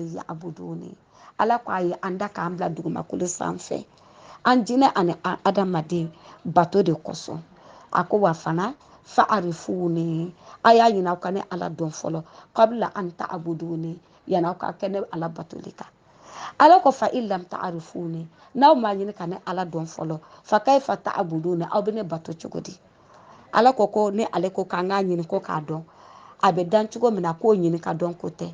ya abuduni ala ko a ye an da k'an bila dugumakolo sanfɛ an jinɛ ani an adamaden bato de kosɔn a ko wa fana fa arifuni a y'a ɲini aw ka ne ala dɔn fɔlɔ kabla an ta abuduni yanni aw ka kɛ ne ala batoli kan ala ko fa ilam ta arifuni n'aw m'a ɲini ka ne ala dɔn fɔlɔ fa kayfa ta abuduni aw bɛ ne bato cogo di ala ko ko ne ale ko k'an k'a ɲini ko k'a dɔn a bɛ dan cogo min na k'o ɲini ka dɔn ko tɛ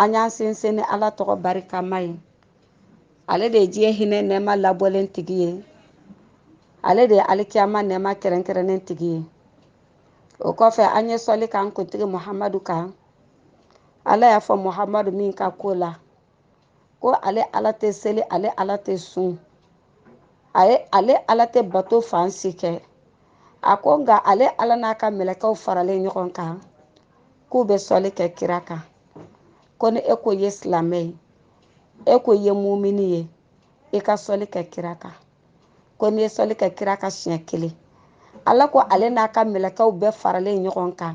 an y'an sinsin ni ala tɔgɔ barikama ye ale de ye diɲɛ hinɛ nɛɛma labɔlen tigi ye ale de ye alikiyama nɛɛma kɛrɛnkɛrɛnnen tigi ye o kɔfɛ an ye sɔli k'an kuntigi muhamadu kan ala y'a fɔ muhamadu min ka ko la ko ale ala tɛ seli ale ala tɛ sun a ye ale ala tɛ bato fan si kɛ a ko nka ale ala n'a ka mɛlɛkɛw faralen ɲɔgɔn kan k'u bɛ sɔli kɛ kira kan ko ni e ko ye silamɛ ye e ko ye mumini ye i ka sɔli kɛ kira kan ko n'i ye sɔli kɛ kira kan siɲɛ kelen ala ko ale n'a ka mɛlɛkɛw bɛɛ faralen ɲɔgɔn kan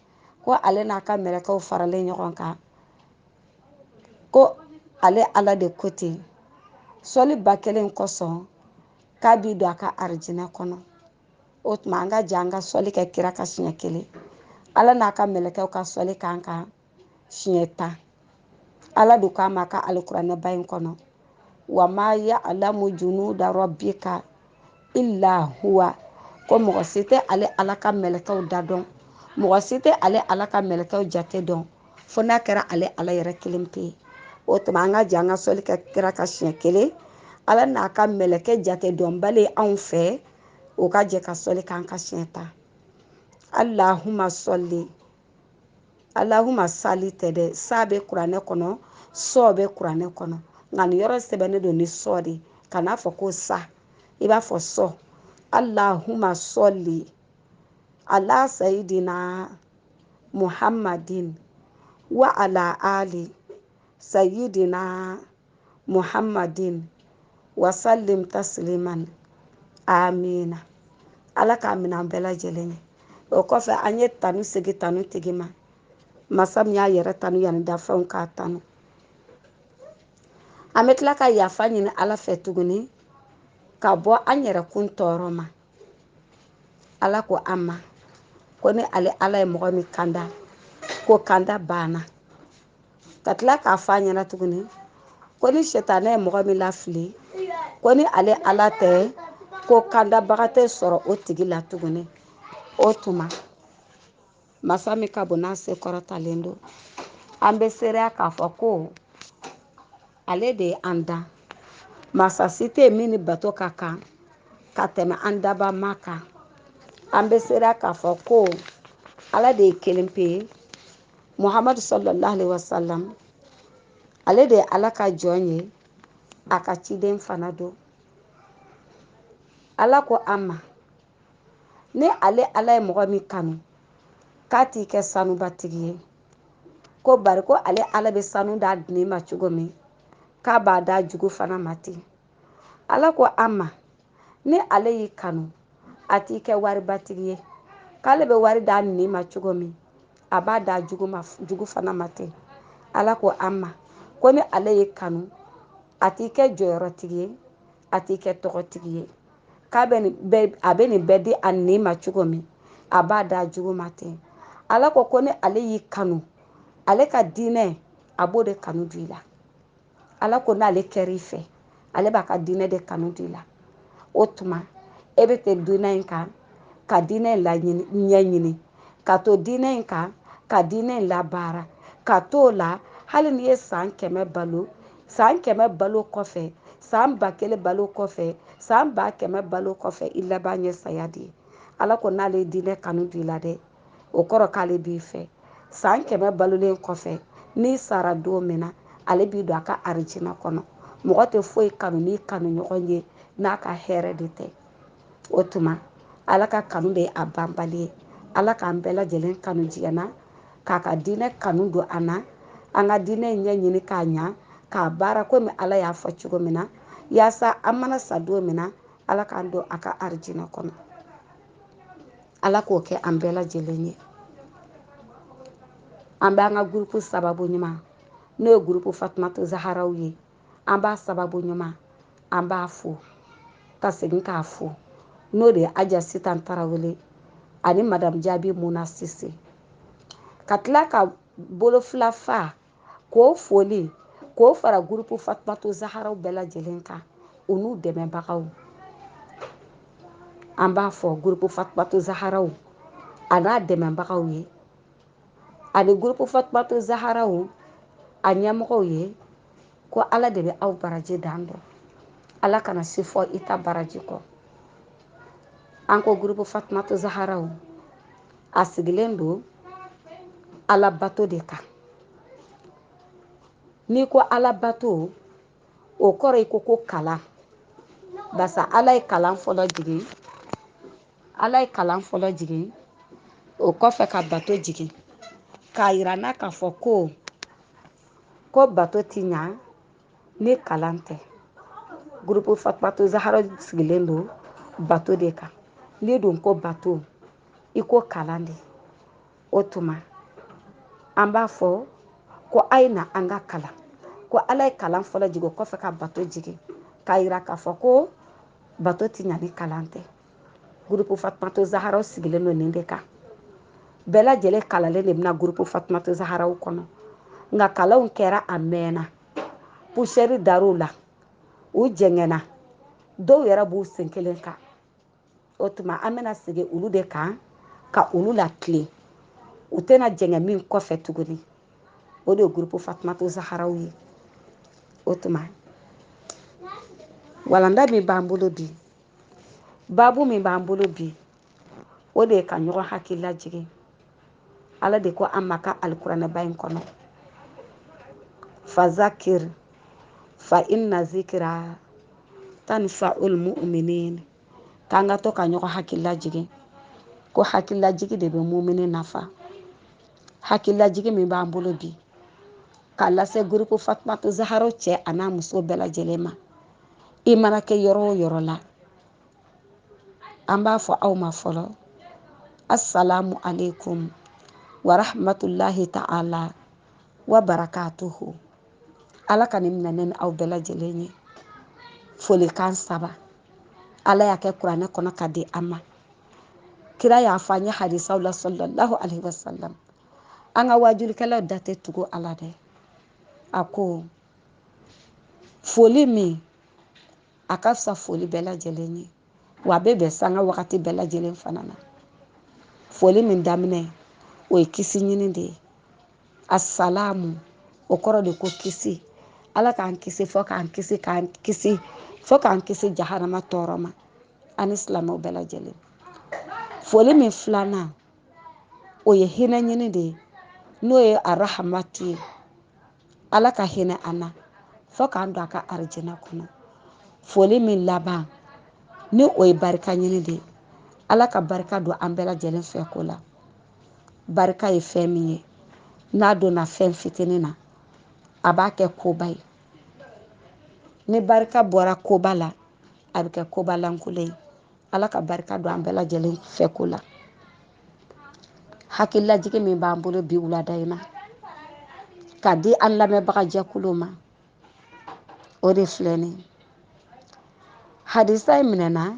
ko ale n'a ka mɛlɛkɛw faralen ɲɔgɔn kan ko ale ala de ko ten sɔli ba kelen kosɔn k'a b'i don a ka arijinɛ kɔnɔ o tuma an ka jɛ an ka sɔli kɛ kira kan siɲɛ kelen ala n'a ka mɛlɛkɛw ka sɔli k'an kan siɲɛ tan ala de k'an ma a ka alikuranɛba in kɔnɔ wa ma ya alamu junuda rabbika illa huwa ko mɔgɔ si tɛ ale ala ka mɛlɛkɛw da dɔn mɔgɔ si tɛ ale ala ka mɛlɛkɛw jate dɔn fo n'a kɛra ale ala yɛrɛ kelen pe ye o tuma an ka jɛ an ka sɔli kɛ kira kan siɲɛ kelen ala n'a ka mɛlɛkɛ jate dɔnbali anw fɛ o ka jɛ ka sɔli k'an kan siɲɛ tan allahuma sɔli alahuma sali tɛ dɛ sa bɛ kuranɛ kɔnɔ sɔ bɛ kuranɛ kɔnɔ nka nin yɔrɔ sɛbɛnnen don ni sɔ de kan'a fɔ ko sa i b'a fɔ sɔ alahuma sɔli ala sayidina muhammadin wa ala ali sayidina muhammadin wasalim tasiliman amina ala k'a minɛ an bɛɛ lajɛlen ye o kɔfɛ an ye tanu segi tanu tigi ma masa min y'a yɛrɛ tanu yanni dafɛnw k'a tanu an bɛ tila ka yafa ɲini ala fɛ tuguni ka bɔ an yɛrɛ kun tɔɔrɔ ma ala ko an ma ko ni ale ala ye mɔgɔ min kanda k'o kanda banna ka tila k'a fɔ an ɲɛna tuguni ko ni sɛtanɛ ye mɔgɔ min lafili ko ni ale ala tɛ ko kandabaga tɛ sɔrɔ o tigi la tuguni o tuma masa min ka bon n'a se kɔrɔtalen don an bɛ seereya k'a fɔ ko ale de ye an dan masa si tɛ yen min ni bato ka kan ka tɛmɛ an daba ma kan an bɛ seereya k'a fɔ ko ala de ye kelen pe ye muhamadu sallallahu alaihi wasallam ale de ye ala ka jɔn ye a ka ciden fana don ala ko an ma ni ale ala ye mɔgɔ min kanu k'a t'i kɛ sanubatigi ye ko bari ko ale ala bɛ sanu d'a nin ma cogo min k'a b'a d'a jugu fana ma ten ala ko an ma ni ale y'i kanu a t'i kɛ waribatigi ye k'ale bɛ wari d'a nin ma cogo min a b'a d'a jugu fana ma ten ala ko an ma ko ni ale y'i kanu a t'i kɛ jɔyɔrɔtigi ye a t'i kɛ tɔgɔtigi ye a bɛ nin bɛɛ di a nin ma cogo min a b'a d'a jugu ma ten ala ko ni ale y'i kanu ale ka diinɛ a b'o de kanu di i la ala ko n'ale kɛra i fɛ ale b'a ka diinɛ de kanu di i la o tuma e bɛ to diinɛ in kan ka diinɛ in laɲini ɲɛɲini ka to diinɛ in kan ka diinɛ in labaara ka t'o la hali n'i ye san kɛmɛ balo san kɛmɛ balo kɔfɛ san ba kelen balo kɔfɛ san ba kɛmɛ balo kɔfɛ i laban ye saya de ye ala ko n'ale ye diinɛ kanu di i la dɛ o kɔrɔ k'ale b'i fɛ san kɛmɛ balolen kɔfɛ n'i sara don min na ale b'i don a ka arijina kɔnɔ mɔgɔ tɛ foyi kanu n'i kanu ɲɔgɔn ye n'a ka hɛrɛ de tɛ o tuma ala ka kanu de ye a banbali ye ala k'an bɛɛ lajɛlen kanu diɲɛ na k'a ka diinɛ kanu don an na an ka diinɛ ɲɛɲini k'a ɲa k'a baara komi ala y'a fɔ cogo min na yaasa an mana sa don min na ala k'an don a ka arijina kɔnɔ Ala k'o kɛ an bɛɛ lajɛlen ye an b'an ka gurupu sababu ɲuman n'o ye gurupu fatumatu zaharaw ye an b'a sababu ɲuman an b'a fo ka segin k'a fo n'o de ye aja sitan tarawele ani madamu jaabi muna sise ka tila ka bolo fila fa k'o foli k'o fara gurupu fatumatu zaharaw bɛɛ lajɛlen kan u n'u dɛmɛbagaw an b'a fɔ gurupu fatumatu zaharaw a n'a dɛmɛbagaw ye ani gurupu fatumatu zaharaw a ɲɛmɔgɔw ye ko ala de bɛ aw baraji dan dɔn ala kana si fɔ i ta baraji kɔ an ko gurupu fatumatu zaharaw a sigilen don ala bato de kan n'i ko ala bato o kɔrɔ i ko ko kalan barisa ala ye kalan fɔlɔ jigin ala ye kalan fɔlɔ jigin o kɔfɛ ka bato jigin k'a yira an na k'a fɔ ko ko bato ti ɲa ni kalan tɛ gurupu fatumata zaharaw sigilen don bato de kan n'i dun ko bato i ko kalan de o tuma an b'a fɔ ko a ye na an ka kalan ko ala ye kalan fɔlɔ jigin o kɔfɛ ka bato jigin k'a yira k'a fɔ ko bato ti ɲa ni kalan tɛ gurupu fatumata zaharaw sigilen don nin de kan bɛɛ lajɛlen kalannen de bɛ na gurupu fatumata zaharaw kɔnɔ nka kalanw kɛra a mɛɛnna pusɛri dar'u la u jɛngɛnna dɔw yɛrɛ b'u sen kelen kan o tuma an bɛna segin olu de kan ka olu latilen u tɛna jɛngɛ min kɔfɛ tuguni o de ye gurupu fatumata zaharaw ye o tuma walanda min b'an bolo bi baabu min b'an bolo bi o de ye ka ɲɔgɔn hakili lajigin ala de ko an ma a ka alikuranɛba in kɔnɔ fazakir fa inna zikira tanfa'ul mu'minin k'an ka to ka ɲɔgɔn hakili lajigin ko hakililajigin de bɛ mumini nafa hakililajigin min b'an bolo bi k'a lase gurupu fatumata zaharaw cɛ an'a muso bɛɛ lajɛlen ma i mana kɛ yɔrɔ o yɔrɔ la an b'a fɔ aw ma fɔlɔ assalamu alaikum wa rahmatulahi ta'ala wa barakatuhu ala ka nin minɛ ne ni aw bɛɛ lajɛlen ye folikan saba ala y'a kɛ kuranɛ kɔnɔ k'a di an ma kira y'a fɔ an ye hadisaw la sallallahu alaihi wasallam an ka waajulikɛlaw da tɛ tugu a la dɛ a ko foli min a ka fisa foli bɛɛ lajɛlen ye wa a bɛ bɛn sanga wagati bɛɛ lajɛlen fana na foli min daminɛ o ye kisi ɲini de ye assalamu o kɔrɔ de ko kisi ala k'an kisi fo k'an kisi k'an kisi fo k'an kisi jahanama tɔɔrɔ ma ani silamɛw bɛɛ lajɛlen foli min filanan o ye hinɛ ɲini de ye n'o ye arahamatu ye ala ka hinɛ an na fo k'an don a ka arijina kɔnɔ foli min laban ni o ye barika ɲini de ye ala ka barika don an bɛɛ lajɛlen fɛ ko la barika ye fɛn min ye n'a donna fɛn fitinin na a b'a kɛ koba ye ni barika bɔra koba la a bɛ kɛ koba lankolon ye ala ka barika don an bɛɛ lajɛlen fɛ ko la hakililajigi min b'an bolo bi wulada in na ka di an lamɛnbagajɛkulu ma o de filɛ nin hadisa in minɛna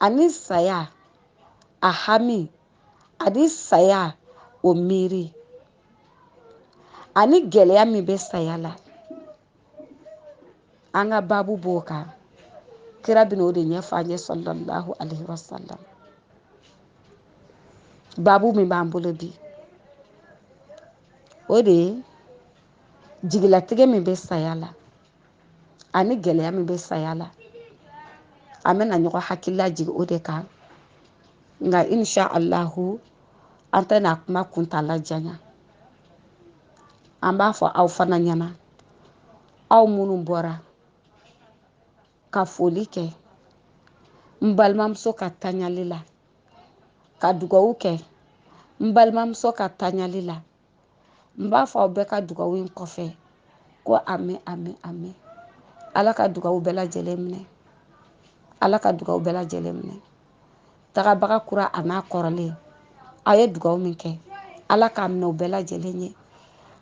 ani saya a hami ani saya o miiri ani gɛlɛya min bɛ saya la an ka baabu b'o kan kira bɛna o de ɲɛfɔ an ye sallallahu alaihi wa sallam baabu min b'an bolo bi o de ye jigilatigɛ min bɛ saya la ani gɛlɛya min bɛ saya la an bɛna ɲɔgɔn hakili lajigin o de kan nka insha allahu an tɛna kuma kuntaala janya an b'a fɔ aw fana ɲɛna aw minnu bɔra ka foli kɛ n balimamuso ka taɲali la ka dugawu kɛ n balimamuso ka taɲali la n b'a fɔ aw bɛɛ ka dugawu in kɔfɛ ko amin amin amin ala ka dugawu bɛɛ lajɛlen minɛ ala ka dugawu bɛɛ lajɛlen minɛ tagabaga kura an'a kɔrɔlen a ye dugawu min kɛ ala k'a minɛ u bɛɛ lajɛlen ye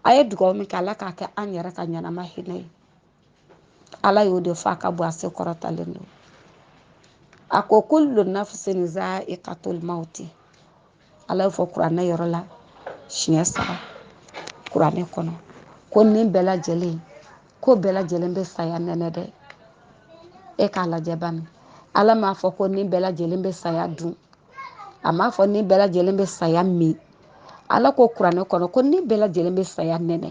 a ye dugawu min kɛ ala k'a kɛ an yɛrɛ ka ɲɛnama hinɛ ye ala y'o de fɔ a ka bon a se kɔrɔtalen don a ko kullu nafsin za'iqatul mauti ala y'o fɔ kuranɛ yɔrɔ la siɲɛ saba kuranɛ kɔnɔ ko ni bɛɛ lajɛlen ko bɛɛ lajɛlen bɛ saya nɛnɛ dɛ e k'a lajɛ bani ala m'a fɔ ko ni bɛɛ lajɛlen bɛ saya dun a m'a fɔ ni bɛɛ lajɛlen bɛ saya min ala ko kuranɛ kɔnɔ ko ni bɛɛ lajɛlen bɛ saya nɛnɛ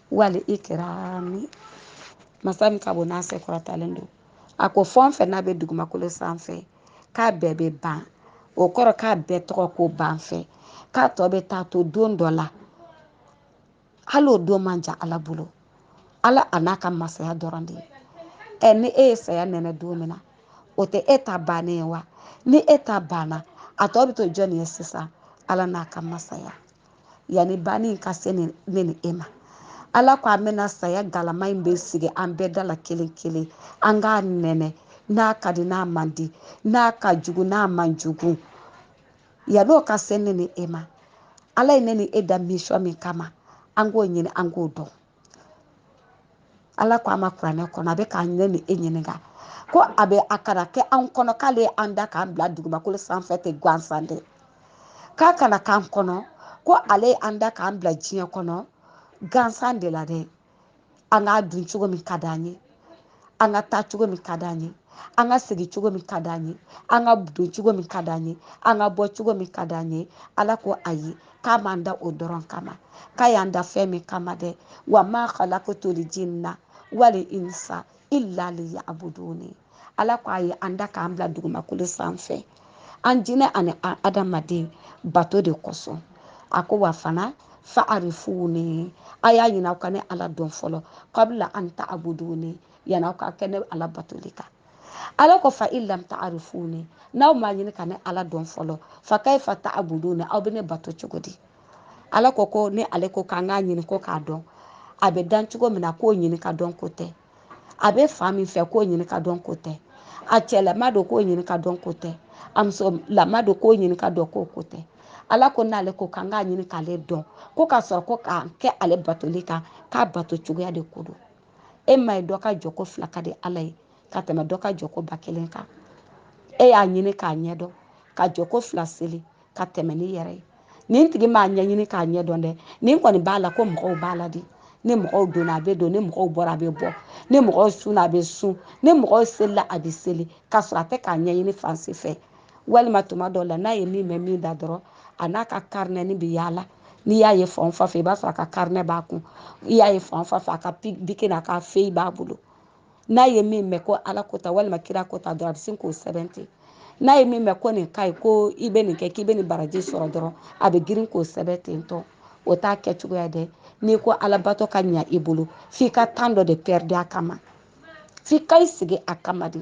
wal ikrami masa min ka bon n'a se kɔrɔtalen don a ko fɛn o fɛn n'a bɛ dugumakolo sanfɛ k'a bɛɛ bɛ ban o kɔrɔ k'a bɛɛ tɔgɔ ko ban fɛ k'a tɔ bɛ taa to don dɔ la hali o don man jan ala bolo ala an'a ka masaya dɔrɔn de ye ɛ ni e ye saya nɛnɛ don min na o tɛ e ta bannen ye wa ni e ta banna a tɔ bɛ to jɔnni ye sisan ala n'a ka masaya yanni banni in ka se ne ni e ma ala ko an bɛna saya galama in bɛ sigi an bɛɛ da la kelen kelen an k'a nɛnɛ n'a ka di n'a man di n'a ka jugu n'a man jugu yann'o ka se ne ni e ma ala ye ne ni e da misɔn min kama an k'o ɲini an k'o dɔn ala ko an ma kuranɛ kɔnɔ a bɛ ka ne ni e ɲininka ko a bɛ a kana kɛ anw kɔnɔ k'ale ye an da k'an bila dugumakolo sanfɛ ten gansan dɛ k'a kana k'an kɔnɔ ko ale ye an da k'an bila diɲɛ kɔnɔ gansan de la dɛ an k'a dun cogo min ka d'an ye an ka taa cogo min ka d'an ye an ka segin cogo min ka d'an ye an ka don cogo min ka d'an ye an ka bɔ cogo min ka d'an ye ala ko ayi k'a m'an da o dɔrɔn kama k'a y'an da fɛn min kama dɛ wa ma khalaqtuli jinna wali insa illa liyabuduni ala ko a ye an da k'an bila dugumakolo sanfɛ an jinɛ ani an adamaden bato de kosɔn a ko wa fana fa arifuni a y'a ɲini aw ka ne ala dɔn fɔlɔ kabila an tabuduni yanni aw ka kɛ ne ala batoli kan ala ko fa in lam tarifuni n'aw m'a ɲini ka ne ala dɔn fɔlɔ fa kayifa tabuduni aw bɛ ne bato cogo di ala ko ko ni ale ko k'an k'a ɲini ko k'a dɔn a bɛ dan cogo min na k'o ɲini ka dɔn ko tɛ a bɛ fan min fɛ k'o ɲini ka dɔn ko tɛ a cɛlama don k'o ɲini ka dɔn ko tɛ a musolama don k'o ɲini ka dɔn k'o ko tɛ ala ko n'ale ko k'an k'a ɲini k'ale dɔn ko ka sɔrɔ ko ka kɛ ale batoli kan k'a bato cogoya de ko don e ma ye dɔ ka jɔ ko fila ka di ala ye ka tɛmɛ dɔ ka jɔ ko ba kelen kan e y'a ɲini k'a ɲɛdɔn ka jɔ ko fila seli ka tɛmɛ ni yɛrɛ ye nin tigi m'a ɲɛɲini k'a ɲɛ dɔn dɛ nin kɔni b'a la ko mɔgɔw b'a la de ni mɔgɔw donna a bɛ don ni mɔgɔw bɔra a bɛ bɔ ni mɔgɔw sunna a bɛ sun ni mɔgɔw selila a bɛ seli k'a sɔrɔ a tɛ k'a ɲɛɲini fan si fɛ walima tuma dɔw la n'a ye min mɛn min da dɔrɔn a n'a ka karinɛni bɛ yaala n'i y'a ye fan o fan fɛ i b'a sɔrɔ a ka karinɛ b'a kun i y'a ye fan o fan fɛ a ka biki n'a ka feyi b'a bolo n'a ye min mɛn ko ala ko ta walima kira ko ta dɔrɔn a bɛ sin k'o sɛbɛn ten n'a ye min mɛn ko nin ka ɲi ko i bɛ nin kɛ k'i bɛ nin baraji sɔrɔ dɔrɔn a bɛ girin k'o sɛbɛn ten tɔ o t'a kɛ cogoya dɛ n'i ko alabato ka ɲa i bolo f'i ka tan dɔ de pɛridi a kama f'i ka i sigi a kama de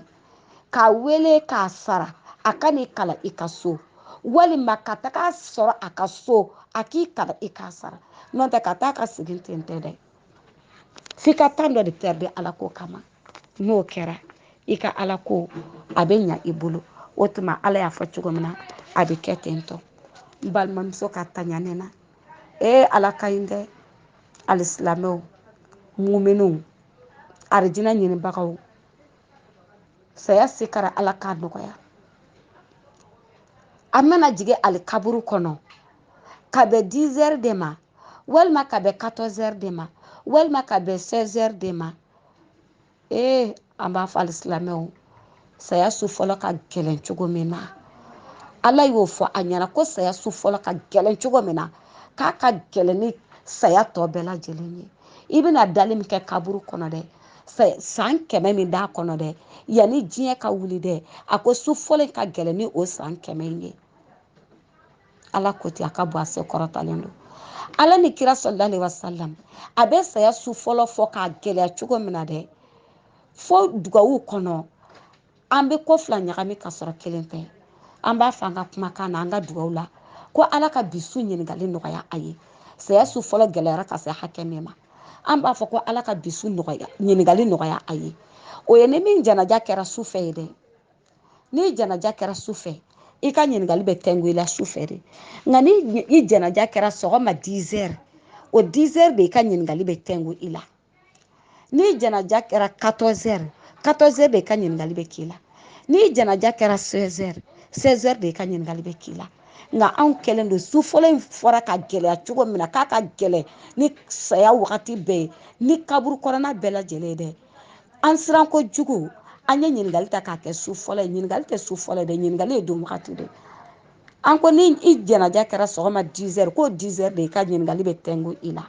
k'a wele k'a sara a ka n'i kalan i ka so walima ka taga sɔrɔ a ka so a k'i kalan i k'a sara n'o tɛ ka taa ka segin ten tɛ dɛ f'i ka tan dɔ de pɛridi ala ko kama n'o kɛra i ka ala ko a bɛ ɲa i bolo o tuma ala y'a fɔ cogo min na a bɛ kɛ ten tɔ n balimamuso ka taɲa ne na ee ala ka ɲi dɛ alisilamɛw muminunw arijina ɲinibagaw saya sikara ala k'a nɔgɔya an mana jigin alikaburu kɔnɔ ka bɛn hɛɛrɛ de ma walima ka bɛn 14 heures de ma walima ka bɛn 16 heures de ma ee eh, an b'a fɔ alisilamɛw saya su fɔlɔ ka gɛlɛn cogo min na ala y'o fɔ a ɲɛna ko saya su fɔlɔ ka gɛlɛn cogo min na k'a ka gɛlɛn ni saya tɔ bɛɛ lajɛlen ye i bɛna dali min kɛ kaburu kɔnɔ dɛ san kɛmɛ min d'a kɔnɔ dɛ yanni diɲɛ ka wuli dɛ a ko su fɔlɔ in ka gɛlɛn ni o san kɛmɛ in ye ala ko ten a ka bon a se kɔrɔtalen don ala ni kira sɔlala alaihi wasalam a bɛ saya su fɔlɔ fɔ k'a gɛlɛya cogo min na dɛ fo dugawu kɔnɔ an bɛ ko fila ɲagami ka sɔrɔ kelen tɛ an b'a fɔ an ka kumakan na an ka dugawu la ko ala ka bi su ɲininkali nɔgɔya a ye saya su fɔlɔ gɛlɛyara ka se hakɛ min ma an b'a fɔ ko ala ka bi su nɔgɔya ɲininkali nɔgɔya a ye o ye ni min janaja kɛra su fɛ ye dɛ n'i janaja kɛra su fɛ i ka ɲininkali bɛ tɛngu i la su fɛ de nka ni i janaja kɛra sɔgɔma 10 heures o 10 heures de i ka ɲininkali bɛ tɛngu i la n'i janaja kɛra 14 heures 14 heures de i ka ɲininkali bɛ k'i la n'i janaja kɛra 16 heures 16 heures de i ka ɲininkali bɛ k'i la nka anw kɛlen don su fɔlɔ in fɔra ka gɛlɛya cogo min na k'a ka gɛlɛn ni saya wagati bɛɛ ye ni kaburu kɔnɔna bɛɛ lajɛlen ye dɛ an siran kojugu an ye ɲininkali ta k'a kɛ su fɔlɔ ye ɲininkali tɛ su fɔlɔ ye dɛ ɲininkali ye don wagati de an ko ni i janaja kɛra sɔgɔma 10 heures k'o 10 heures de i ka ɲininkali bɛ tɛngu i la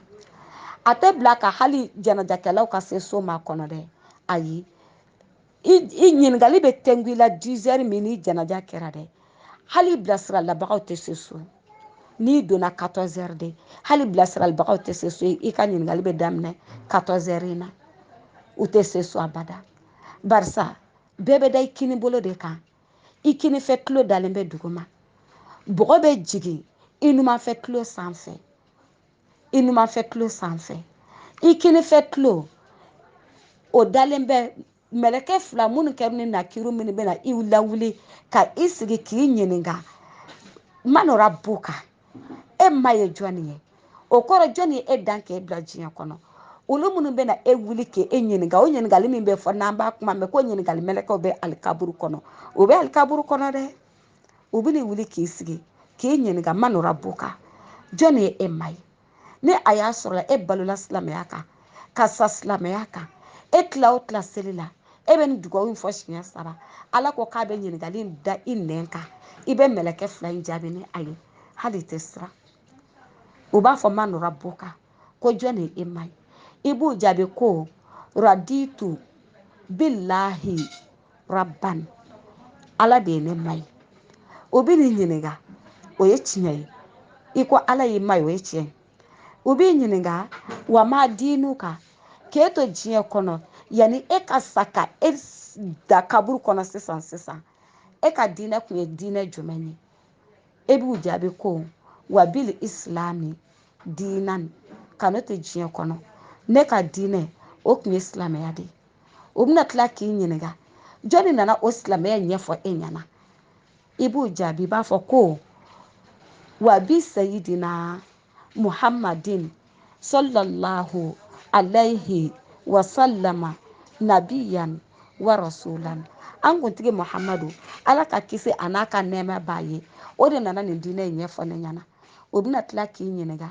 a tɛ bila ka hali janajakɛlaw ka se so makɔnɔ dɛ ayi i ɲininkali bɛ tɛngu i la 10 heures min ni janaja kɛra dɛ hali bilasiralibagaw tɛ se so n'i donna 14 heures de hali bilasiralibagaw tɛ se so i ka ɲininkali bɛ daminɛ 14 heures in na u tɛ se so abada barisa bɛɛ bɛ da i kini bolo de kan i kinifɛ tulo dalen bɛ duguma bɔgɔ bɛ jigin i numanfɛ tulo sanfɛ i numanfɛ tulo sanfɛ i kinifɛ tulo o dalen bɛ mɛlɛkɛ fila munkaru ni nakiru minnu bɛna i lawuli ka i sigi k'i ɲininka man rabuka e ma ye jɔni ye o kɔrɔ jɔni ye e dan k'e bila diɲɛ kɔnɔ olu minnu bɛna e wuli k'e ɲininka o ɲininkali min bɛ fɔ n'an b'a kuma mɛn ko ɲininkali mɛlɛkɛw bɛ alikaburu kɔnɔ o bɛ alikaburu kɔnɔ dɛ u bɛna wuli k'i sigi k'i ɲininka man rabuka jɔni ye e ma ye ni a y'a sɔrɔla e balola silamɛya kan ka sa silamɛya kan e tila o tila seli la e bɛ nin dugawu in fɔ siɲɛ saba ala ko k'a bɛ ɲininkali in da i nɛn kan i bɛ mɛlɛkɛ fila in jaabi ni a ye hali tɛ siran u b'a fɔ man rabuka ko jɔn de ye e ma ye i b'u jaabi ko raditu bilahi rabban ala de ye ne ma ye o bɛ nin ɲininka o ye tiɲɛ ye i ko ala y'i ma ye o ye tiɲɛ ye o b'i ɲininka wa ma diinuka k'e to diɲɛ kɔnɔ yanni e ka sa ka e da kaburu kɔnɔ sisan sisan e ka diinɛ kun ye diinɛ jumɛn ye e b'u jaabi ko wa bil islami diinan ka ne to diɲɛ kɔnɔ ne ka diinɛ o kun ye silamɛya de ye o bɛna tila k'i ɲininka jɔnni nana o silamɛya ɲɛfɔ e ɲɛna i b'u jaabi i b'a fɔ ko wa bi sayidina muhammadin sallallahu alayhi wa sallama nabiyan wa rasulan an kuntigi muhammadu ala ka kisi a n'a ka nɛɛma b'a ye o de nana nin diinɛ in ɲɛfɔ ne ɲɛna o bɛna tila k'i ɲininka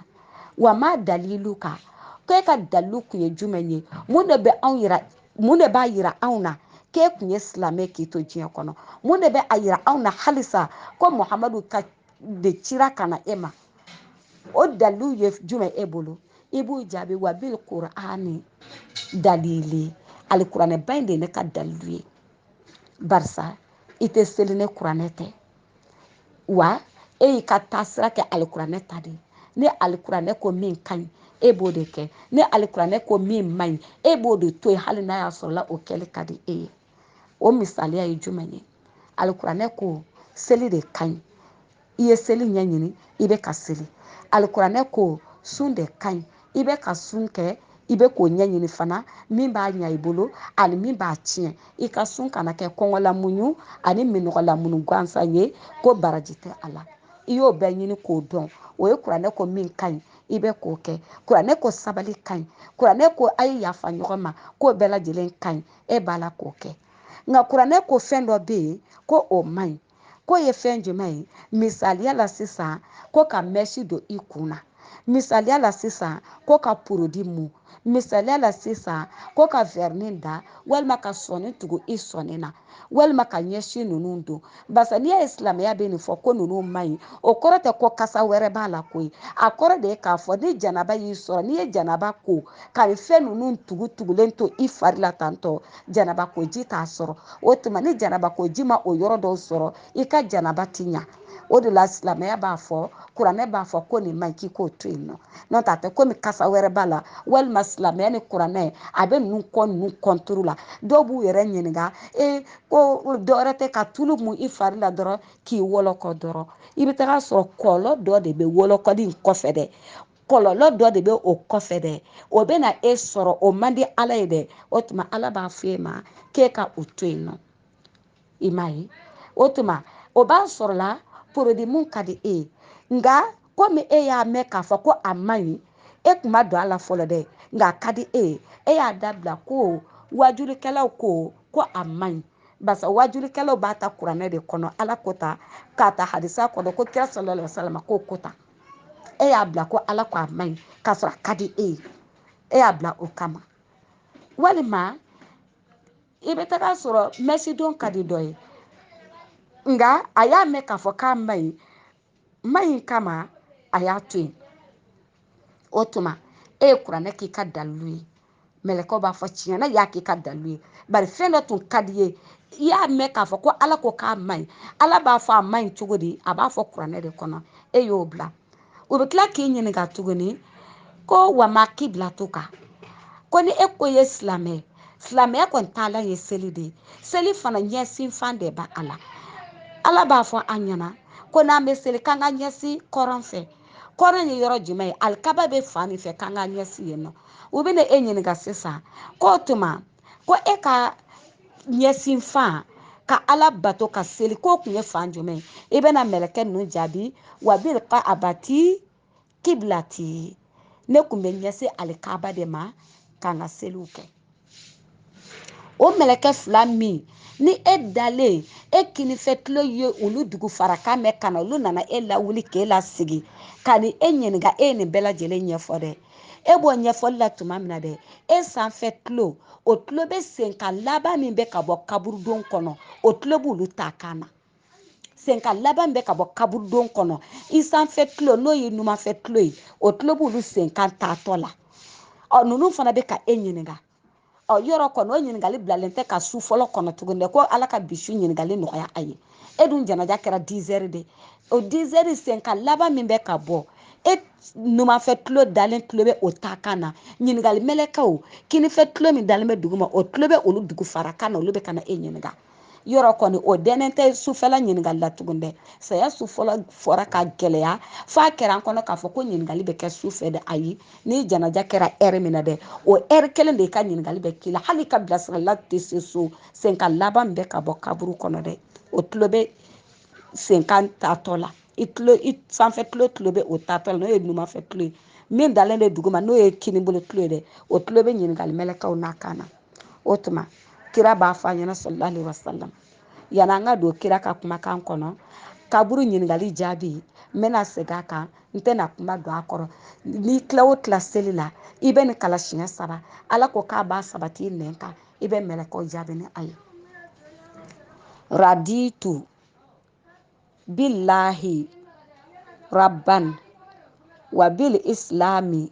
wa ma daliluka k'e ka dalilu kun ye jumɛn ye mun de b'a yira anw na k'e kun ye silamɛ k'i to diɲɛ kɔnɔ mun de bɛ a yira anw na halisa ko muhamadu ka de cira ka na e ma o dalilu ye jumɛn e bolo i b'u jaabi wa bil kur'ani dalili alikuranɛba in de ye ne ka dalilu ye barisa i tɛ seli ni kuranɛ tɛ wa e y'i ka taasira kɛ alikuranɛ ta de ye ni alikuranɛ ko min ka ɲi e b'o de kɛ ni alikuranɛ ko min man ɲi e b'o de to yen hali n'a y'a sɔrɔla o kɛli ka di e ye o misaliya ye jumɛn ye alikuranɛ ko seli de ka ɲi i ye seli ɲɛɲini i bɛ ka seli alikuranɛ ko sun de ka ɲi i bɛ ka sun kɛ i bɛ k'o ɲɛɲini fana min b'a ɲa i bolo ani min b'a tiɲɛ i ka sun kana kɛ kɔngɔlamuɲu ani minɔgɔlamuɲu gansan ye ko baraji tɛ a la i y'o bɛɛ ɲini k'o dɔn o ye kuranɛ ko min ka ɲi i bɛ k'o kɛ kuranɛ ko sabali ka ɲi kuranɛ ko a ye yafa ɲɔgɔn ma k'o bɛɛ lajɛlen ka ɲi e b'a la k'o kɛ nka kuranɛ ko fɛn dɔ bɛ yen ko o man ɲi k'o ye fɛn jumɛn ye misaliya la sisan ko ka mɛsi don i kun na misaliya la sisan ko ka porodi mu misaliya la sisan ko ka vɛrini da walima ka sɔni tugu i sɔni na walima ka ɲɛsi ninnu don barisa n'i y'a ye silamɛya bɛ nin fɔ ko ninnu man ɲi o kɔrɔ tɛ ko kasa wɛrɛ b'a la koyi a kɔrɔ de ye k'a fɔ ni janaba y'i sɔrɔ n'i ye janaba ko ka nin fɛn ninnu tugutugulen to i fari la tantɔ janaba ko ji t'a sɔrɔ o tuma ni janaba ko ji ma o yɔrɔ dɔw sɔrɔ i ka janaba ti ɲa o de la silamɛya b'a fɔ kuranɛ b'a fɔ ko nin man ɲi k'i k'o to yen nɔ n'o tɛ a tɛ komi kasa wɛrɛ b'a la walima silamɛya ni kuranɛ a bɛ ninnu kɔ ninnu kɔntoro la dɔw b'u yɛrɛ ɲininka e ko dɔwɛrɛ tɛ ka tulu mun i fari la dɔrɔn k'i wɔlɔkɔ dɔrɔn i bɛ taga sɔrɔ kɔlɔlɔ dɔ de bɛ wɔlɔkɔli in kɔfɛ dɛ kɔlɔlɔ dɔ de bɛ o kɔfɛ dɛ o bɛ na e sɔrɔ o man di ala ye dɛ o tuma ala b'a fɔ e ma k'e ka o to yen nɔ i m'a ye o tuma o b'a sɔrɔla porodi mun ka di e ye nka komi e y'a mɛn k'a fɔ ko a man ɲi e kun ma don a la fɔlɔ dɛ nka a ka di e ye e y'a dabila ko wajulikɛlaw ko ko a man ɲi barisa wajulikɛlaw b'a ta kuranɛ de kɔnɔ ala ko tan k'a ta hadisa kɔnɔ ko kira sallallahu alaihi wasallam ko ko tan e y'a bila ko ala ko a man ɲi k'a sɔrɔ a ka di e ye e y'a bila o kama walima i bɛ taga a sɔrɔ mɛsidon ka di dɔ ye nka a y'a mɛn k'a fɔ k'a man ɲi man ɲi kama a y'a to yen o tuma e ye kuranɛ k'i ka dalilu ye mɛlɛkɛw b'a fɔ tiɲɛ na i y'a k'i ka dalilu ye bari fɛn dɔ tun ka d'i ye i y'a mɛn k'a fɔ ko ala ko k'a man ɲi ala b'a fɔ a man ɲi cogo di a b'a fɔ kuranɛ de kɔnɔ e y'o bila o bɛ tila k'i ɲininka tuguni ko wa ma kibilatuka ko ni e ko ye silamɛ silamɛya kɔni taalan ye seli de ye seli fana ɲɛsin fan de b'a la ala b'a fɔ an ɲɛna ko n'an bɛ seli k'an ka ɲɛsin kɔrɔn fɛ kɔrɔn ye yɔrɔ jumɛn ye alikaba bɛ fan min fɛ k'an ka ɲɛsin yen nɔ u bɛna e ɲininka sisan k'o tuma ko e ka ɲɛsin fan ka ala bato ka seli k'o kun ye fan jumɛn i bɛna mɛlɛkɛ ninnu jaabi wa bil kaabati kiblati ne kun bɛ ɲɛsin alikaba de ma k'an ka seliw kɛ o mɛlɛkɛ fila min ni e dalen e kinifɛ tulo ye olu dugu farakan mɛn ka na olu nana e lawuli k'e lasigi ka ni e ɲininka e ye nin bɛɛ lajɛlen ɲɛfɔ dɛ e b'o ɲɛfɔli la tuma min na dɛ e sanfɛ tulo o tulo bɛ senkan laban min bɛ ka bɔ kaburudon kɔnɔ o tulo b'olu ta kan na senkan laban min bɛ ka bɔ kaburudon kɔnɔ i sanfɛ tulo n'o ye numanfɛ tulo ye o tulo b'olu senkan taatɔ la ɔ ninnu fana bɛ ka e ɲininka ɔ yɔrɔ kɔni o ɲininkali bilalen tɛ ka su fɔlɔ kɔnɔ tuguni dɛ ko ala ka bi su ɲininkali nɔgɔya a ye e dun janaja kɛra dizɛri de o dizɛri senkan laban min bɛ ka bɔ e numanfɛ tulo dalen tulo bɛ o ta kan na ɲininkali mɛlɛkɛw kinifɛ tulo min dalen bɛ dugu ma o tulo bɛ olu dugu fara kan na olu bɛ ka na e ɲininka yɔrɔ kɔni o dɛnnen tɛ sufɛla ɲininkali la tugun dɛ saya su fɔlɔ fɔra ka gɛlɛya f'a kɛra an kɔnɔ k'a fɔ ko ɲininkali bɛ kɛ su fɛ dɛ ayi ni janaja kɛra ɛri min na dɛ o ɛri kelen de ka ɲininkali bɛ k'i la hali i ka bilasirala tɛ se so senkan laban bɛ ka bɔ kaburu kɔnɔ dɛ o tulo bɛ senkan taatɔ la i tulo i sanfɛ tulo tulo bɛ o taatɔ la n'o ye numanfɛ tulo ye min dalen bɛ duguma n'o ye kinibolo tulo ye dɛ o tulo bɛ ɲininkali mɛlɛkɛw nakan na o tuma kira b'a fɔ a ɲɛna sallallahu alaihi wasallam yani an ka don kira ka kumakan kɔnɔ kaburu ɲininkali jaabi n bɛna segin a kan n tɛna kuma don a kɔrɔ n'i tila o tila seli la i bɛ nin kalan siɲɛ saba ala ko k'a b'a sabati i nɛn kan i bɛ mɛlɛkɛw jaabi ni a ye raditu billahi rabban wa bil islami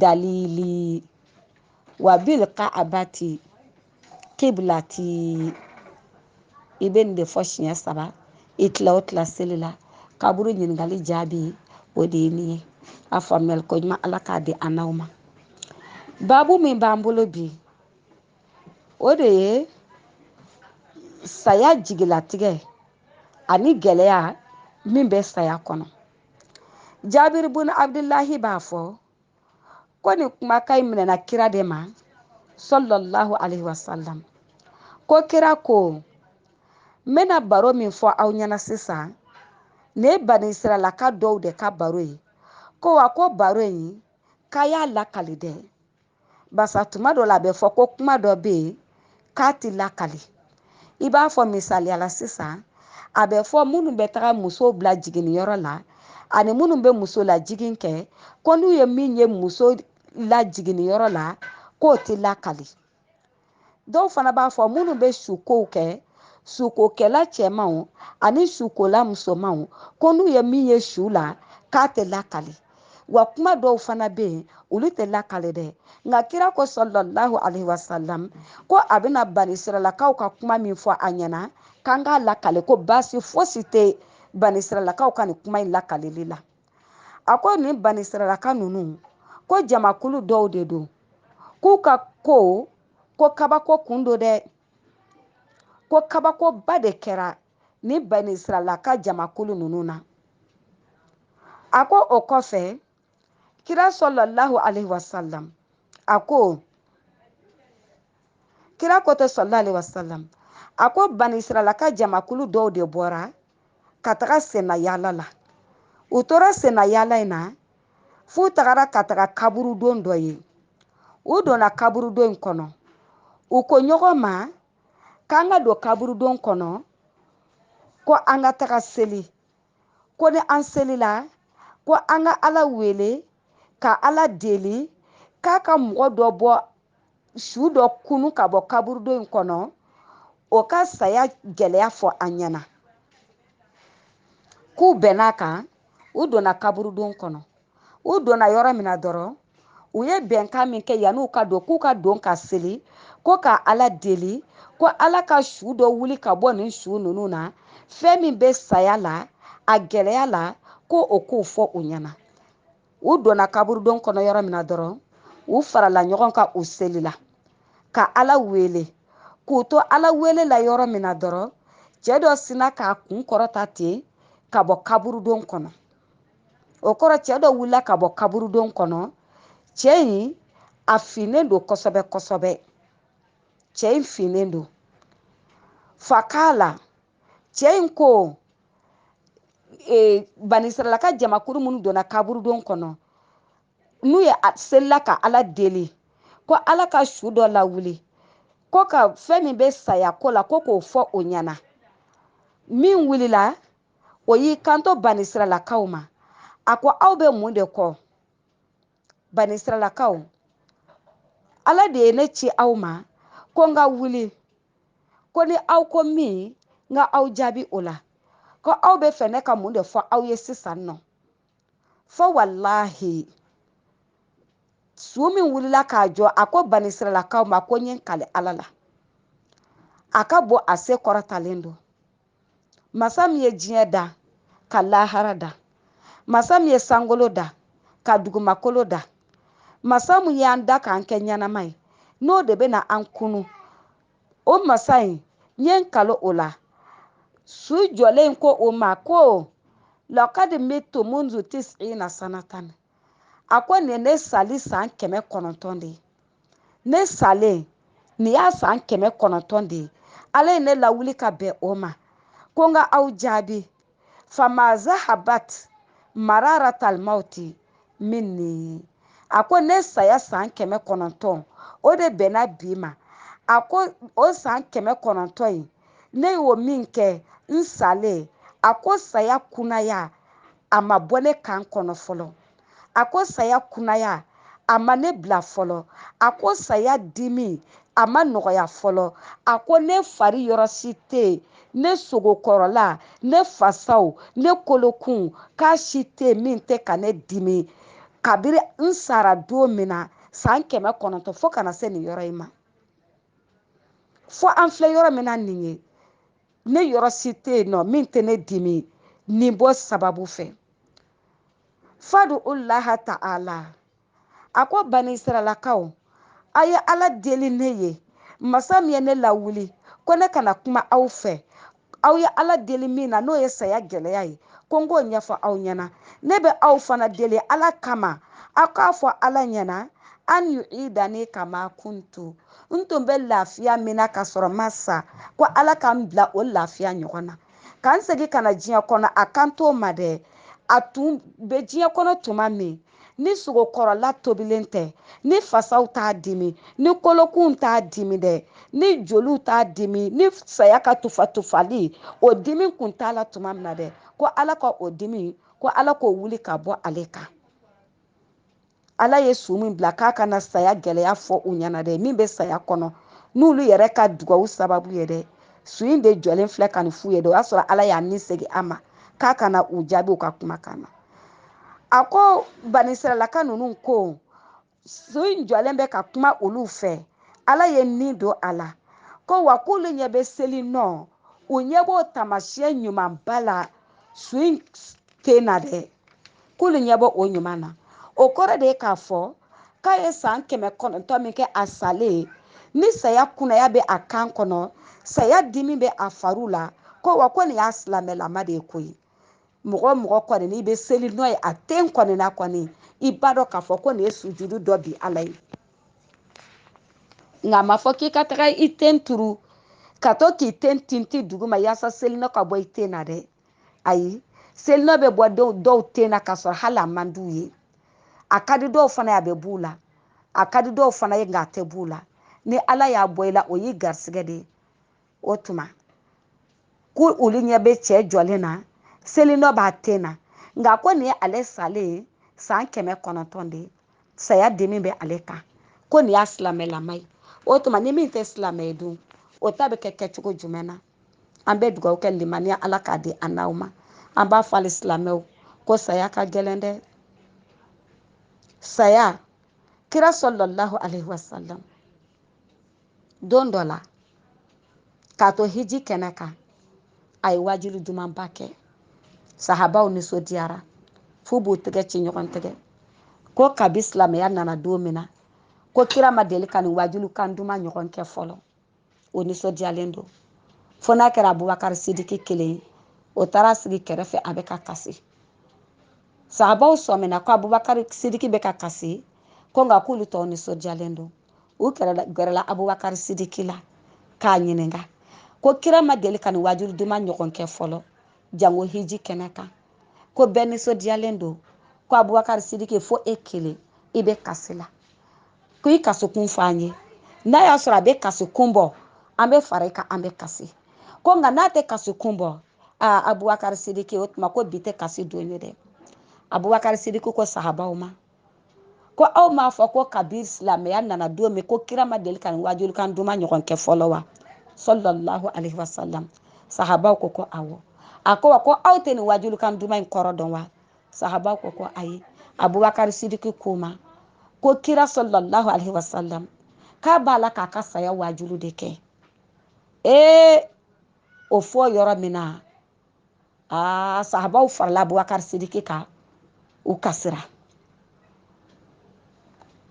dalili wa bil ka'abati kiblati i bɛ nin de fɔ siɲɛ saba i tila o tila seli la kaburu ɲininkali jaabi o de ye nin ye a faamuyali ko ɲuman ala k'a di an n'aw ma baabu min b'an bolo bi o de ye saya jigilatigɛ ani gɛlɛya min bɛ saya kɔnɔ jabir bun abdullahi b'a fɔ ko nin kumakan in minɛna kira de ma sallallahu alaihi wasallam ko kira ko n bɛna baro min fɔ aw ɲɛna sisan nin ye bani israɛlaka dɔw de ka baro ye ko wa ko baro in k'a y'a lakali dɛ basa tuma dɔ la a bɛ fɔ ko kuma dɔ bɛ yen k'a ti lakali i b'a fɔ misaliya la sisan a bɛ fɔ minnu bɛ taga musow bila jiginniyɔrɔ la ani minnu bɛ muso lajigin kɛ ko n'u ye min ye muso lajiginniyɔrɔ la k'o tɛ lakali dɔw fana b'a fɔ minnu bɛ sukow kɛ sukokɛla cɛmanw ani sukola musomanw ko n'u ye min ye su la k'a tɛ lakali wa kuma dɔw fana bɛ yen olu tɛ lakali dɛ nka kira ko sallallahu alaihi wasallam ko a bɛna bani siralakaw ka kuma min fɔ a ɲɛna k'an k'a lakali ko baasi fosi tɛ bani siralakaw ka nin kuma in lakalili la a ko nin banisiralaka ninnu ko jamakulu dɔw de don k'u ka ko ko kabako kun don dɛ ko kabakoba de kɛra nin banisiralaka jamakulu ninnu na a ko o kɔfɛ kira sallallahu alaihi wasallam a ko kira ko tɛ sallallahu alaihi wasallam a ko banisiralaka jamakulu dɔw de bɔra ka taga senna yaala la u tora senna yaala in na f'u tagara ka taga kaburudon dɔ ye u donna kaburudon in kɔnɔ u ko ɲɔgɔn ma k'an ka don kaburudon kɔnɔ ko an ka taga seli ko ni an selila ko an ka ala wele ka ala deli k'a ka mɔgɔ dɔ bɔ su dɔ kunun ka bɔ kaburudon in kɔnɔ o ka saya gɛlɛya fɔ an ɲɛna k'u bɛn'a kan u donna kaburudon kɔnɔ u donna yɔrɔ min na dɔrɔn u ye bɛnkan min kɛ yanni u ka don k'u ka don ka seli ko ka ala deli ko ala ka su dɔ wuli ka bɔ nin su ninnu na fɛn min bɛ saya la a gɛlɛya la ko o k'o fɔ u ɲɛna u donna kaburudon kɔnɔ yɔrɔ min na dɔrɔn u farala ɲɔgɔn kan u selila ka ala wele k'u to ala wele la yɔrɔ min na dɔrɔn cɛ dɔ sina k'a kun kɔrɔta ten ka bɔ kaburudon kɔnɔ o kɔrɔ cɛ dɔ wulila ka bɔ kaburudon kɔnɔ cɛ in a finnen don kosɛbɛ kosɛbɛ cɛ in finnen don fakala cɛ in ko e, banisiralaka jamakuru minnu donna kaburudon kɔnɔ n'u ye seli la ka ala deli ko ala ka su dɔ lawuli ko ka fɛn min bɛ saya ko la ko k'o fɔ o ɲɛna min wulila o y'i kanto banisiralakaw ma a ko aw bɛ mun de kɔ banisiralakaw ala de ye ne ci aw ma ko n ka wuli ko ni aw ko min n ka aw jaabi o la ko aw b'a fɛ ne ka mun de fɔ aw ye sisan n n'o fɔ walahi su min wulila k'a jɔ a ko banisiralakaw ma ko n ye n kali ala la a ka bon a se kɔrɔtalen don masa min ye diɲɛ da ka lahara da masa min ye sankolo da ka dugumakolo da masa min y'an da k'an kɛ ɲɛnama ye n'o de bɛna an kunun o masa in n ye n kali o la su jɔlen ko o ma ko lakadi mitu munzu tisina sanatan a ko nin ye ne sali san kɛmɛ kɔnɔntɔn de ye ne salen nin y'a san kɛmɛ kɔnɔntɔn de ye ala ye ne lawuli ka bɛn o ma ko n ka aw jaabi fama zahabat mararatal mawti minni a ko ne saya san kɛmɛ kɔnɔntɔn o de bɛnna bi ma a ko o san kɛmɛ kɔnɔntɔn in ne y'o min kɛ n salen a ko saya kunaya a ma bɔ ne kan kɔnɔ fɔlɔ a ko saya kunaya a ma ne bila fɔlɔ a ko saya dimi a ma nɔgɔya fɔlɔ a ko ne fari yɔrɔ si tɛ yen ne sogo kɔrɔla ne fasaw ne kolokun k'a si tɛ yen min tɛ ka ne dimi kabiri n sara don min na san kɛmɛ kɔnɔntɔn fo ka na se nin yɔrɔ in ma fo an filɛ yɔrɔ min na nin ye ne yɔrɔ si tɛ yen nɔ min tɛ ne dimi nin bɔ sababu fɛ fadu laha ta'ala a ko banisiralakaw a ye ala deli ne ye masa min ye ne lawuli ko ne ka na kuma aw fɛ aw ye ala deli min na n'o ye saya gɛlɛya ye ko n k'o ɲɛfɔ aw ɲɛna ne bɛ aw fana deli ala kama aw k'a fɔ ala ɲɛna an yu'idani kama kuntu n tun bɛ lafiya min na ka sɔrɔ n ma sa ko ala ka n bila o lafiya ɲɔgɔn na ka n segin ka na diɲɛ kɔnɔ a kan t'o ma dɛ a tun bɛ diɲɛ kɔnɔ tuma min ni sogo kɔrɔla tobilen tɛ ni fasaw t'a dimi ni kolokunw t'a dimi dɛ ni joliw t'a dimi ni saya ka tufa tufali o dimi kun t'a la tuma min na dɛ ko ala ka o dimi ko ala k'o wuli ka bɔ ale kan ala ye su min bila k'a ka na saya gɛlɛya fɔ u ɲɛna dɛ min bɛ saya kɔnɔ n'olu yɛrɛ ka dugawu sababu ye dɛ su in de jɔlen filɛ ka nin f'u ye dɛ o y'a sɔrɔ ala y'a ni segin a ma k'a ka na u jaabi u ka kumakan na a ko banisiralaka ninnu ko su in jɔlen bɛ ka kuma olu fɛ ala ye ni don a la ko wa k'olu ɲɛ bɛ selinɔ u ɲɛ b'o taamasiyɛn ɲumanba la su in ten na dɛ k'olu ɲɛ b'o ɲuman na o kɔrɔ de ye k'a fɔ k'a ye san kɛmɛ kɔnɔntɔn min kɛ a salen ni saya kunaya bɛ a kan kɔnɔ saya dimi bɛ a fariw la ko wa ko nin y'a silamɛlama de ye koyi mɔgɔ mɔgɔ kɔni n'i bɛ seli n'o ye a ten kɔni na kɔni i b'a dɔn k'a fɔ ko nin ye sujudu dɔ bi ala ye nka a ma fɔ k'i ka taga i ten turu ka to k'i ten tinti duguma yaasa selinɔ ka bɔ i ten na dɛ ayi selinɔ bɛ bɔ dɔw ten na k'a sɔrɔ hali a man d'u ye a ka di dɔw fana ye a bɛ b'u la a ka di dɔw fana ye nka a tɛ b'u la ni ala y'a bɔ i la o y'i garisigɛ de ye o tuma ko olu ɲɛ bɛ cɛ jɔlen na selinɔ b'a ten na nka ko nin ye ale salen ye san kɛmɛ kɔnɔntɔn de ye saya dimi bɛ ale kan ko nin y'a silamɛlama ye o tuma ni min tɛ silamɛ ye dun o ta bɛ kɛ kɛcogo jumɛn na an bɛ dugawu kɛ limaniya ala k'a di an n'aw ma an b'a fɔ hali silamɛw ko saya ka gɛlɛn dɛ saya kira salalahu alaihi wasalam don dɔ la k'a to hiji kɛnɛ kan a ye waajuli dumanba kɛ sahabaw nisɔndiyara f'u b'u tɛgɛ ci ɲɔgɔn tɛgɛ ko kabi silamɛya nana don min na ko kira ma deli ka nin waajuli kan duman ɲɔgɔn kɛ fɔlɔ o nisɔndiyalen don fo n'a kɛra abubakari sidiki kelen ye o taara sigi kɛrɛfɛ a bɛ ka kasi sahabaw sɔmina ko abubakari sidiki bɛ ka kasi ko nka k'olu tɔw nisɔndiyalen don u gɛrɛla abubakari sidiki la k'a ɲininka ko kira ma deli ka nin waajulu duman ɲɔgɔn kɛ fɔlɔ jango hiji kɛnɛ kan ko bɛɛ nisɔndiyalen don ko abubakari sidiki fo e kelen i bɛ kasi la ko i kasikun fɔ an ye n'a y'a sɔrɔ a bɛ kasikun bɔ an bɛ fara i kan an bɛ kasi ko nka n'a tɛ kasikun bɔ aa abubakari sidiki o tuma ko bi tɛ kasi don ye dɛ abubakari sidiki ko sahabaw ma ko aw m'a fɔ ko kabiri silamɛya nana don min ko kira ma deli ka nin wajulu kan duman ɲɔgɔn kɛ fɔlɔ wa sallallahu alaihi wasallam sahabaw ko ko awɔ a ko wa ko aw tɛ nin wajulu kan duman in kɔrɔ dɔn wa sahabaw ko ko ayi abubakari sidiki k'u ma ko kira sallallahu alaihi wasallam k'a b'a la k'a ka saya waajulu de kɛ ee o fɔ yɔrɔ min na aa sahabaw farala abubakari sidiki kan u kasira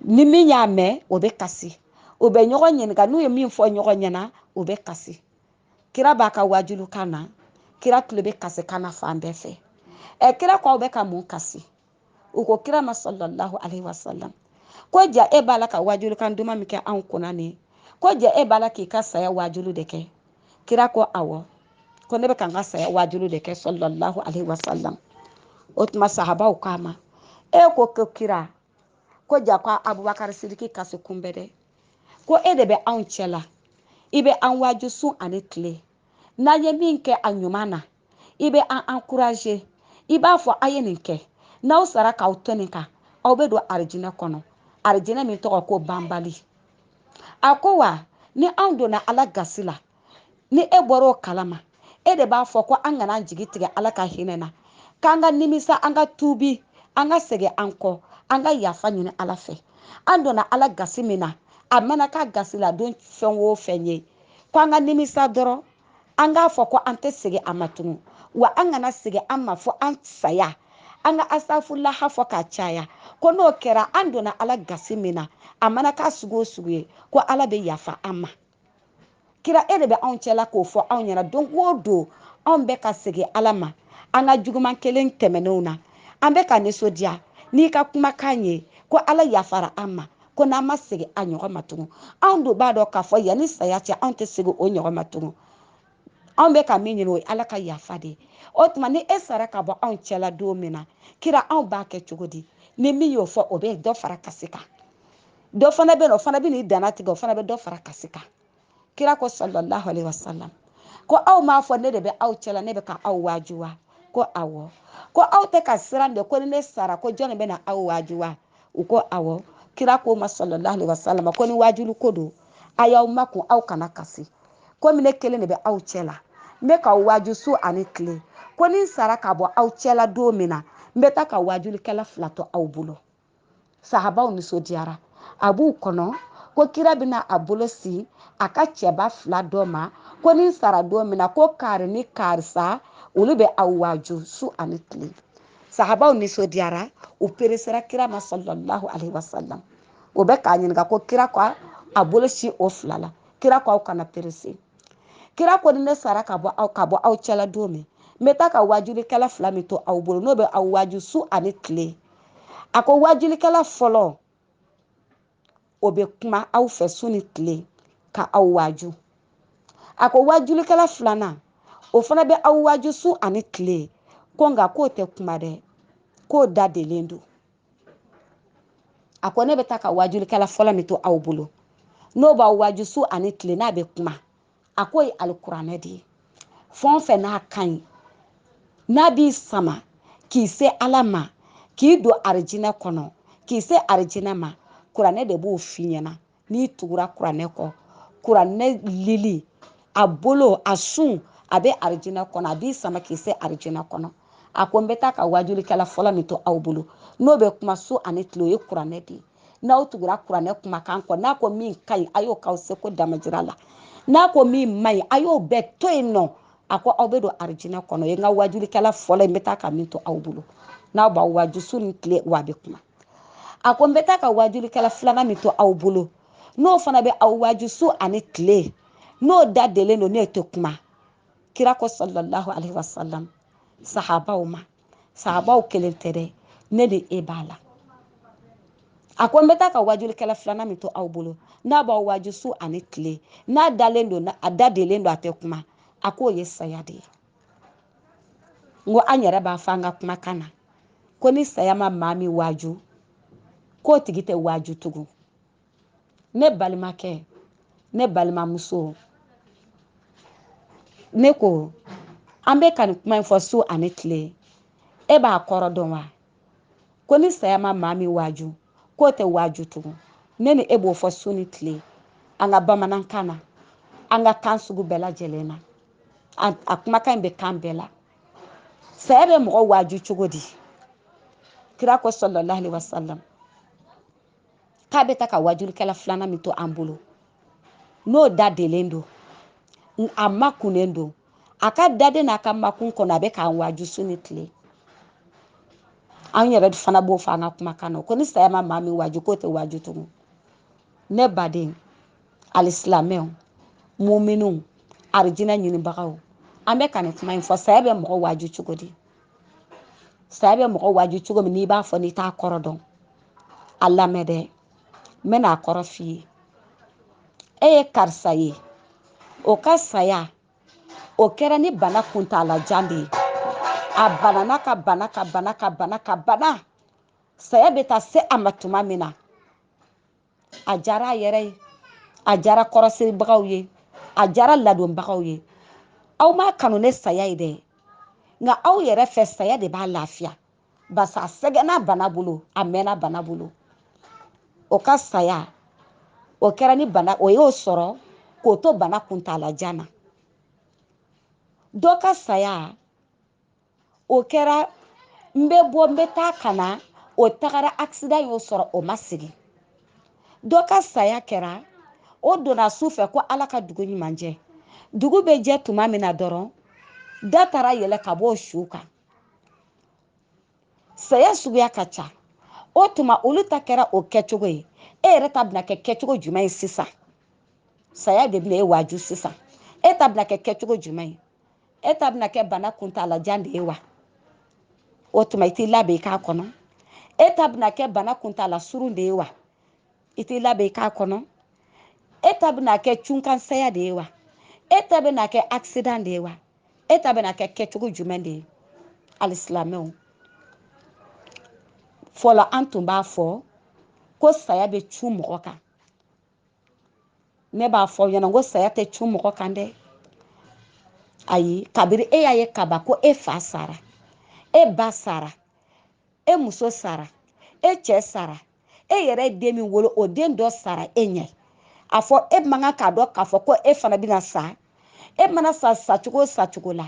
ni min y'a mɛn o bɛ kasi u bɛ ɲɔgɔn ɲininka n'u ye min fɔ ɲɔgɔn ɲɛna u bɛ kasi kira b'a ka wajulu kan na kira tulo bɛ kasi kan na fan bɛɛ fɛ ɛ kira ko aw bɛ ka mun kasi u ko kira ma sallallahu alaihi wasallam ko ja e b'a la ka wajulu kan duman min kɛ anw kunna nin ko ja e b'a la k'i ka saya wajulu de kɛ kira ko awɔ ko ne bɛ ka n ka saya wajulu de kɛ sallallahu alaihi wasallam o tuma sahabaw k'a ma e ko ko kira ko ja ko abubakari sidiki kasikun bɛ dɛ ko e de bɛ anw cɛ la i bɛ an waaju su ani tile n'an ye min kɛ a ɲuman na i bɛ an encourager i b'a fɔ a ye nin kɛ n'aw sara k'aw to nin kan aw bɛ don arijinɛ kɔnɔ arijinɛ min tɔgɔ ko banbali a ko wa ni anw donna ala gasi la ni e bɔra o kalama e de b'a fɔ ko an kana an jigi tigɛ ala ka hinɛ na k'an ka nimisa an ka tuubi an ka segin an kɔ an ka yafa ɲini ala fɛ an donna ala gasi min na a mana k'a gasiladon fɛn o fɛn ye ko an ka nimisa dɔrɔn an k'a fɔ ko an tɛ segin a ma tugun wa an kana segin a ma fo an saya an ka asafulaha fɔ k'a caya ko n'o kɛra an donna ala gasi min na a mana k'a sugu o sugu ye ko ala bɛ yafa an ma kira e de bɛ anw cɛla k'o fɔ anw ɲɛna don o don anw bɛ ka segin ala ma an ka juguman kɛlen tɛmɛnenw na an bɛ ka nisɔndiya n'i ka kumakan ye ko ala yafara an ma ko n'an ma segin a ɲɔgɔn ma tugun anw dun b'a dɔn k'a fɔ yanni saya cɛ anw tɛ segin o ɲɔgɔn ma tugun anw bɛ ka min ɲini o ye ala ka yafa de ye o tuma ni e sara ka bɔ anw cɛla don min na kira anw b'a kɛ cogo di ni min y'o fɔ o bɛ dɔ fara kasi kan dɔ fana bɛ yen o fana bɛ n'i danna tigɛ o fana bɛ dɔ fara kasi kan kira ko sallallahu alaihi wasallam ko aw m'a fɔ ne de bɛ aw cɛla ne bɛ ka aw waaju wa ko awɔ ko aw tɛ ka siran de ko ni ne sara ko jɔnni bɛ na aw waaju wa u ko awɔ kira k'o ma sallallahu alaihi wasallam ko ni waajuli ko don a y'aw makun aw kana kasi komi ne kelen de bɛ aw cɛla n bɛ k'aw waaju su ani tile ko ni n sara ka bɔ aw cɛla don min na n bɛ taa ka waajulikɛla fila to aw bolo sahabaw nisɔndiyara a b'u kɔnɔ ko kira bɛna a bolo sin a ka cɛba fila dɔ ma ko ni n sara don min na ko kari ni karisa olu bɛ aw waaju su ani tile sahabaw nisɔndiyara u peresera kira ma sallallahu alaihi wasallam o bɛ k'a ɲininka ko kira ko a bolo sin o fila la kira ko aw kana perese kira ko ni ne sara ka bɔ aw ka bɔ aw cɛla don min n bɛ taa ka waajulikɛla fila min to aw bolo n'o bɛ aw waaju su ani tile a ko waajulikɛla fɔlɔ o bɛ kuma aw fɛ su ni tile ka aw waaju a ko waajulikɛla filanan o fana bɛ aw waaju su ani tile ko nka k'o tɛ kuma dɛ k'o da delen don a ko ne bɛ taa ka waajulikɛla fɔlɔ min to aw bolo n'o b'aw waaju su ani tile n'a bɛ kuma a k'o ye alikuranɛ de ye fɛn o fɛn n'a ka ɲi n'a b'i sama k'i se ala ma k'i don arijinɛ kɔnɔ k'i se arijinɛ ma kuranɛ de b'o f'i ɲɛna n'i tugura kuranɛ kɔ kuranɛ lili a bolo a sun a bɛ arijinɛ kɔnɔ a b'i sama k'i se arijinɛ kɔnɔ a ko n bɛ taa ka waajulikɛla fɔlɔ min to aw bolo n'o bɛ kuma su ani tile o ye kuranɛ de ye n'aw tugura kuranɛ kumakan kɔ n'a ko min ka ɲi a y'o k'aw seko damajira la n'a ko min man ɲi a y'o bɛɛ to yen nɔ a ko aw bɛ don arijinɛ kɔnɔ o ye n ka waajulikɛla fɔlɔ n bɛ taa ka min to aw bolo n'a b'aw waaju su ni tile wa a bɛ kuma a ko n bɛ taa ka waajulikɛla filanan min to aw bolo n'o fana bɛ aw waaju su ani tile n'o da delen don n'o tɛ kuma kira ko sallallahu alaihi wasallam sahabaw ma sahabaw kelen tɛ dɛ ne ni e b'a la a ko n bɛ taa ka waajulikɛla filanan min to aw bolo n'a b'aw waaju su ani tile n'a dalen don a da delen don a tɛ kuma a k'o ye saya de ye n ko an yɛrɛ b'a fɔ an ka kumakan na ko ni saya ma maa min waaju k'o tigi tɛ waaju tugun ne balimakɛ ne balimamuso ne ko an bɛ ka nin kuma in fɔ su ani tile e b'a kɔrɔ dɔn wa ko ni saya ma maa min waaju k'o tɛ waaju tugun ne ni e b'o fɔ su ni tile an ka bamanankan na an ka kan sugu bɛɛ lajɛlen na a kumakan in bɛ kan bɛɛ la saya bɛ mɔgɔ waaju cogo di kira ko sallallahu alaihi wasallam k'a bɛ ta ka wajulikɛla filanan min to an bolo n'o dadelen don a makunnen don a ka daden n'a ka makun kɔnɔ a bɛ k'an waju su ni tile an yɛrɛ fana b'o fɔ an ka kumakan na ko ni saya ma maa min waju k'o tɛ waju tugun ne baden alisilamɛw muminunw arijinɛ ɲinibagaw an bɛ ka nin kuma in fɔ saya bɛ mɔgɔ waju cogo di saya bɛ mɔgɔ waju cogo min n'i b'a fɔ n'i t'a kɔrɔ dɔn a lamɛn dɛ n bɛna a kɔrɔ f'i ye e ye karisa ye o ka saya o kɛra ni bana kuntaalajan de ye a banana ka bana ka bana ka bana ka bana saya bɛ taa se a ma tuma min na a diyara a yɛrɛ ye a diyara kɔrɔsiribagaw ye a diyara ladonbagaw ye aw m'a kanu ni saya ye dɛ nka aw yɛrɛ fɛ saya de b'a lafiya basa a sɛgɛnna bana bolo a mɛnna bana bolo o ka saya o kɛra ni bana o y'o sɔrɔ k'o to bana kuntaala jan na dɔ ka saya o kɛra n bɛ bɔ n bɛ taa ka na o tagara accident y'o sɔrɔ o ma segin dɔ ka saya kɛra o donna su fɛ ko ala ka dugu ɲuman jɛ dugu bɛ jɛ tuma min na dɔrɔn da taara yɛlɛ ka bɔ o su kan saya suguya ka ca o tuma olu ta kɛra o kɛcogo ye e yɛrɛ ta bɛna kɛ kɛcogo jumɛn ye sisan saya de bɛna e waaju sisan e ta bɛna kɛ kɛcogo jumɛn ye e ta bɛna kɛ bana kuntalajan de ye wa o tuma i t'i labɛn i k'a kɔnɔ e ta bɛna kɛ bana kuntala surun de ye wa i t'i labɛn i k'a kɔnɔ e ta bɛna kɛ cunkansaya de ye wa e ta bɛna kɛ accident de ye wa e ta bɛna kɛ kɛcogo jumɛn de ye alisilamɛw fɔlɔ an tun b'a fɔ ko saya bɛ cun mɔgɔ kan ne b'a fɔ aw ɲɛna ko saya tɛ cun mɔgɔ kan dɛ ayi kabiri e y'a ye kaban ko e fa sara e ba sara e muso sara e cɛ sara e yɛrɛ ye den min wolo o den dɔ sara e ɲɛ a fɔ e man kan k'a dɔn k'a fɔ ko e fana bɛna sa e mana sa sacogo o sacogo la